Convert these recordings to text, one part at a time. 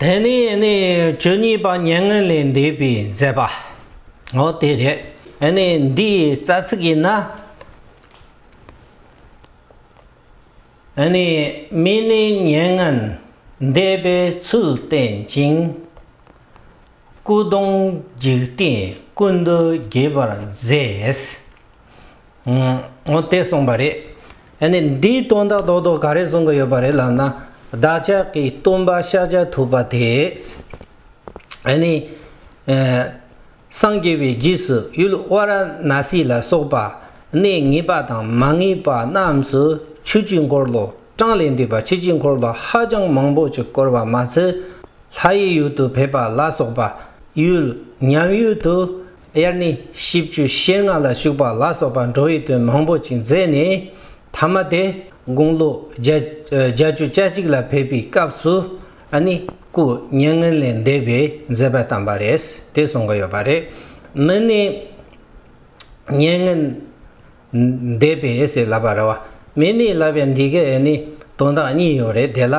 དེ་ནས་ནི་བཅུ་གཉིས་པ་མྱ་ངན་ལས་འདས་པའི་མཛད་པ། འོ་དེ་རེད་ནི་འདིའི་རྩ་ཚིག་ཡིན་ན། ནི་མི་ནི་མྱ་ངན་འདས་པའི་ཚུལ་བསྟན་ཅིང། སྐུ་གདུང་འཇིག་རྟེན་ཀུན་ཏུ་རྒྱས་པར་མཛད། ངོ་དེ་གསུངས་པ་རེད། ཨ་ནི་འདིའི་དོན་དག་རྡོག་རྡོག་ག་རེ་གསུང་གི་ཡོད་པ་རེད་ལབ་ན། བདག་ཅག་གིས་སྟོན་པ་ཤཱཀྱ་ཐུབ་པ་དེས་ཨ་ནི། སངས་རྒྱས་པའི་རྗེས་སུ་ཡུལ་དབའ་ར་ན་སི་ལ་སོགས་པ་གནས་ངེས་པ་དང་མ་ངེས་པ་རྣམས་སུ་ཆོས་ཀྱི་འཁོར་ལོ་གྲངས་ལས་འདས་པ་ཆོས་ཀྱི་འཁོར་ལོ་ཧ་ཅང་མང་པོ་ཅིག་བསྐོར་བ་མ་ཚད། ལྷ་ཡི་ཡུལ་དུ་ཕེབས་པ་ལ་སོགས་པ་ཡུལ་ཉམས་ཡུལ་དུ། དབྱར་ནི་ཤིས་བརྗོད་ཤེལ་སྔགས་ལ་ཞུགས་པ་ལ་སོགས་པ་འགྲོ་བའི་དོན་མང་པོ་ཅིག་མཛད་ནས་ཐ་མ་དེ་དགུང་ལོ་བརྒྱ་བཅུ་ཆ་གཅིག་ལ་ཕེབས་པའི་སྐབས་སུ་ནི་སྐུ་བརྙན་ངན་ལས་འདས་པའི་མཛད་པ་བཏང་བ་རེད་དེ་གསུང་གི་ཡོད་པ་རེད་མི་ནི་བརྙན་ངན་འདས་པའི་ཨེ་སི་ལ་བ་ར་བ་མེ་ནི་ལ་བའི་འདི་གའི་ཨེ་ནི་དོན་དག་གཉིས་ཡོད་རེད་དེ་ལ་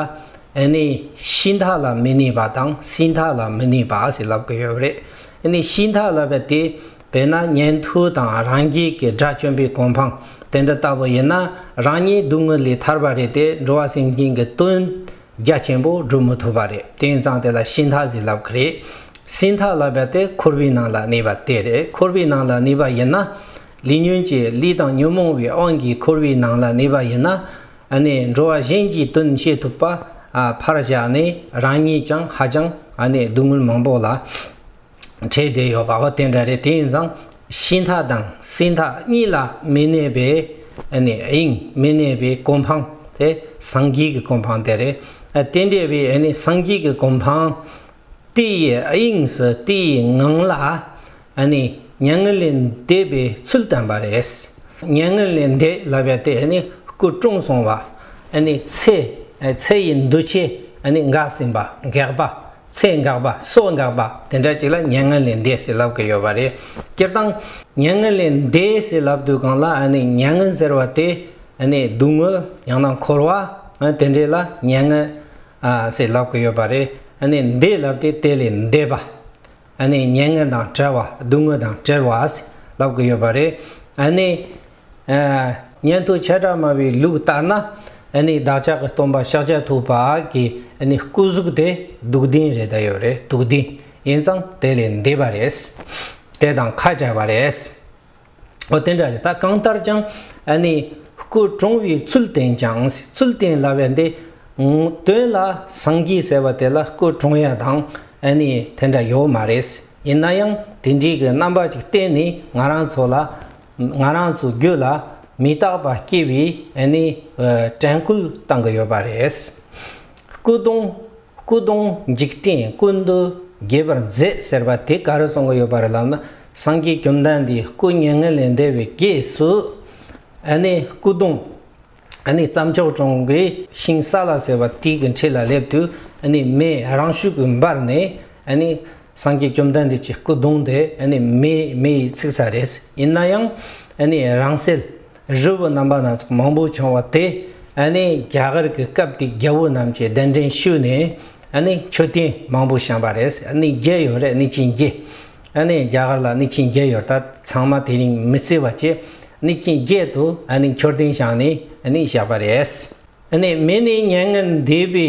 ཨེ་ནི་ཤིང་ཐག་ལ་མི་ནི་བ་དང་སྲིན་ཐག་ལ་མི་ནི་བ་ཨ་སི་ལབ་གི་ཡོད་རེད་ཨེ་ནི་ཤིང་ཐག་ལ་བ་དེ་བས་ན་ཉན་ཐོས་དང་རང་རྒྱལ་གྱི་དགྲ་བཅོམ་པའི་གོ་འཕང་དེ་འདྲ་ལྟ་བུ་ཡིན་ན་རང་ཉིད་སྡུག་བསྔལ་ལས་ཐར་བ་རེད་དེ་འགྲོ་བ་སེམས་ཅན་གྱི་དོན་རྒྱ་ཆེན་པོ་སྒྲུབ་མི་ཐུབ་པ་རེད་དེང་སང་དེ་ལ་ཤིང་ཐག་ཟིག་ལབ་གི་རེད་སྲིན་ཐག་ལ་བ་དེ་འཁོར་བའི་ནང་ལ་ནི་བ་དེ་རེད་འཁོར་བའི་ནང་ལ་ནི་བ་ཡིན་ན། ལས་ཉོན་གྱི་ལུས་དང་ཉོན་མོངས་པའི་དབང་གིས་འཁོར་བའི་ནང་ལ་གནས་པ་ཡིན་ན་ནི་འགྲོ་བ་གཞན་གྱི་དོན་བྱེད་ཐུབ་པ་ཕར་བཞག་ནས་རང་ཉིད་ཀྱང་ཧ་ཅང་སྡུག་བསྔལ་མང་པོ་ལ་འཕྲད་བསྡད་ཡོད་པ་དེ་འདྲ་རེད་དེ་ཡིན་ཙང་ཤི་མཐའ་དང་སྲིད་མཐའ་གཉིས་ལ་མི་གནས་པའི་དབྱིངས་མི་གནས་པའི་གོ་འཕང་དེ་སངས་རྒྱས་ཀྱི་གོ་འཕང་དེ་རེད་དེ་འདྲ་བའི་སངས་རྒྱས་ཀྱི་གོ་འཕང་དེ་ཡི་དབྱིངས་སུ་དེ་ཡི་ངང་ལ་ནི་མྱ་ངན་ལས་འདས་པའི་ཚུལ་བསྟན་པ་རེད། མྱ་ངན་ལས་འདས་ལབ་པའི་དེ་ནི་སྐུ་དྲུང་སོང་བ། ཚེ་ཚེ་ཡི་འདུ་བྱེད་འགགས་ཟིན་པ་འགགས་པ་ཚེ་འགགས་པ་སྲོག་འགགས་པ་དེ་འདྲ་ཅིག་ལ་མྱ་ངན་ལས་འདས་ཟེར་ལབ་ཀྱི་ཡོད་པ་རེད། སྤྱིར་བཏང་མྱ་ངན་ལས་འདས་ཟེར་ལབ་དུས་གང་ལ་མྱ་ངན་ཟེར་བ་དེ་སྡུག་བསྔལ་ཡང་ན་འཁོར་བ་དེ་འདྲས་ལ་མྱ་ངན་ཟེར་ལབ་ཀྱི་ཡོད་པ་རེད། འདས་ལབ་སྟེ་དེ་ལས་འདས་པ། མྱ་ངན་དང་བྲལ་བ་སྡུག་བསྔལ་དང་བྲལ་བ་ལབ་ཀྱི་ཡོད་པ་རེད། ཉན་ཐོས་བྱེ་བྲག་སྨྲ་བའི་ལུགས་ལྟར་ན། བདག་ཅག་གི་སྟོན་པ་ཤཱཀྱ་ཐུབ་པ་གྱི་སྐུ་གཟུགས་དེ་སྡུག་བདེན་རེད་ད་ཡོད་རེད་སྡུག་བདེན་ཡིན་ཙང་དེ་ལས་འདས་པ་རེད། དེ་དང་ཁ་བྲལ་བ་རེད། འོ་དེ་འདྲ་རེད་ད་གང་ལྟར་ཀྱང་ཨ་ནི་སྐུ་གྲོངས་བའི་ཚུལ་བསྟན་ཀྱང་སྲིད་ཚུལ་བསྟན་སླ་བས་འདི་དོན་ལ་སངས་རྒྱས་ཟེར་བ་དེ་ལ་སྐུ་གྲོངས་ཡ་དང་ཨ་ནི་དེ་འདྲ་ཡོད་མ་རེད་ཡིན་ན་ཡང་དེ་འདྲིའི་གི་རྣམ་པ་ཅིག་བསྟན་ནས་ང་རང་ཚོ་ལ་ང་རང་ཚོའི་རྒྱུད་ལ་མི་རྟག་པ་སྐྱེ་བའི་ཨ་ནི་དྲན་སྐུལ་བཏང་གི་ཡོད་པ་རེད་སྐུ་གདུང། སྐུ་གདུང་འཇིག་རྟེན་ཀུན་ཏུ་རྒྱས་པར་མཛད་ཟེར་བ་དེ་ག་རེ་གསུང་གི་ཡོད་པ་རེད་ལབ་ན་སངས་རྒྱས་རྒྱུ་མཐའ་འདིའི་སྐུ་བརྙན་ངན་ལས་འདས་པའི་རྗེས་སུ་ཨ་ནི་སྐུ་གདུང་ཨ་ནི་བརྩམས་ཆོས་གྲོང་གི་ཤིང་སཱ་ལ་ཟེར་བ་དེ་གི་འཁྲིས་ལ་སླེབས་དུས་ཨ་ནི་མེ་རང་ཤུགས་ཀྱིས་འབར་ནས་ཨ་ནི་སངས་རྒྱས་རྒྱུ་མཐའ་འདི་ཀྱི་སྐུ་གདུང་དེ་ཨ་ནི་མེ་ཡིས་ཚིག་ཚར་རེད་ཡིན་ན་ཡང་ཨ་ནི་རང་སེལ། རི་བོ་རྣམ་པ་སྣ་ཚོགས་མང་པོ་བྱུང་བ་དེ་ནི་རྒྱ་གར་གྱི་སྐབས་དེའི་རྒྱལ་བོ་རྣམས་ཀྱིས་གདན་འདྲེན་ཞུས་ནས་མཆོད་རྟེན་མང་པོ་བཞེངས་པ་རེད། རྒྱལ་ཡོད་རེད་ནི་ཅིན་རྒྱལ། རྒྱ་གར་ལ་ནི་ཅིན་རྒྱལ་ཡོད་ད་ཚང་མ་དེ་རིང་མི་བརྩི་བ་བྱས། ནི་ཅིན་རྒྱལ་དུ་མཆོད་རྟེན་བཞེངས་ནས་བཞག་པ་རེད། མི་ནི་མྱ་ངན་འདས་པའི་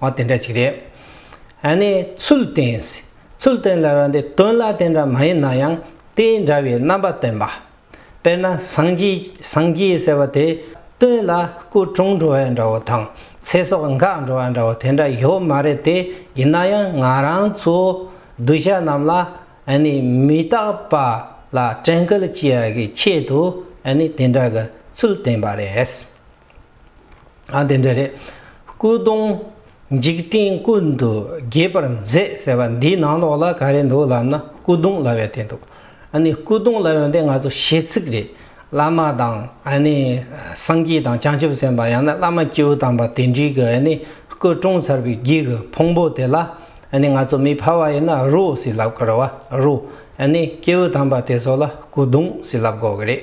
ཨོ་དེ་འདྲ་ཅིག་རེད། ཨ་ནི་ཚུལ་བསྟན། ཚུལ་བསྟན་ལ་ར་འདི་དོན་ལ་དེ་འདྲ་མ་ཡིན་ན་ཡང་དེ་འདྲ་བའི་རྣམ་པ་བསྟན་པ། དཔེར་ན་སངས་རྒྱས་ཟེར་བ་དེ་དོན་ལ་སྐུ་གྲོངས་འགྲོ་བ་འདྲ་བོ་དང་ཚེ་སྲོག་འགག་འགྲོ་བ་འདྲ་བོ་དེ་འདྲ་ཡོད་མ་རེད་དེ་ཡིན་ན་ཡང་ང་རང་ཚོའི་གདུལ་བྱ་རྣམས་ལ་ཨ་ནི་མི་རྟག་པ་ལ་དྲན་སྐུལ་བྱེད་ཡག་གི་ཆེད་དུ་ཨ་ནི་དེ་འདྲ་གི་ཚུལ་བསྟན་པ་རེད། ཨ་དེ་འདྲ་རེད། སྐུ་གདུང། འཇིག་རྟེན་ཀུན་ཏུ་རྒྱས་པར་མཛད་ཟེར་བ་འདིའི་ནང་ལོགས་ལ་ག་རེ་འདུག་ལབ་ན་སྐུ་གདུང་ལབ་ཡོད་དེ་འདུག་ཨ་ནི་སྐུ་གདུང་ལབ་ཡོད་འདི་ང་ཚོ་ཞེ་ཚིག་རེད། བླ་མ་དང་ཨ་ནི་སངས་རྒྱས་དང་བྱང་ཆུབ་སེམས་དཔའ་ཡང་ན་བླ་མ་སྤྱིའུ་དམ་པ་དེ་འདྲིའི་གི་ཨ་ནི་སྐུ་བཀྲོངས་ཚར་བའི་རྒྱུད་གི་ཕུང་པོ་དེ་ལ་ཨ་ནི་ང་ཚོ་མི་ཕལ་བ་ཡིན་ན་རུ་ཟེར་ལབ་དགོས་ར་བ་རུ་ཨ་ནི་སྐྱེའུ་དམ་པ་དེ་ཚོ་ལ་སྐུ་གདུང་ཟེར་ལབ་དགོས་གི་རེད།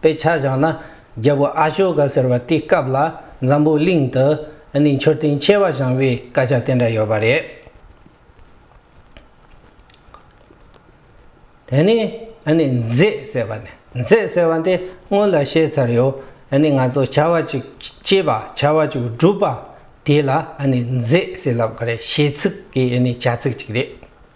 དཔེ་ཆ་བཞག་ན་རྒྱལ་པོ་ཨ་ཤོ་ཀ་ཟེར་བ་དེའི་སྐབས་ལ་འཛམ་བུའི་གླིང་དུ་ནི་མཆོད་རྟེན་ཆེ་བ་བཞེངས་པའི་སྐད་ཆ་དེ་འདྲ་ཡོད་པ་རེད། དེ་ནས་ནི་མཛེས་ཟེར་བ་ནི་མཛེས་ཟེར་བ་དེ་སྔོན་ལ་བཤད་ཚར་ཡོད་ནི་ང་ཚོ་བྱ་བ་ཅིག་སྐྱེས་པ་བྱ་བ་ཅིག་བསྒྲུབས་པ་དེ་ལ་ནི་མཛེས་ཟེར་ལབ་ག་རེ་ཞེ་ཚིག་གི་ནི་བྱ་ཚིག་ཅིག་རེད།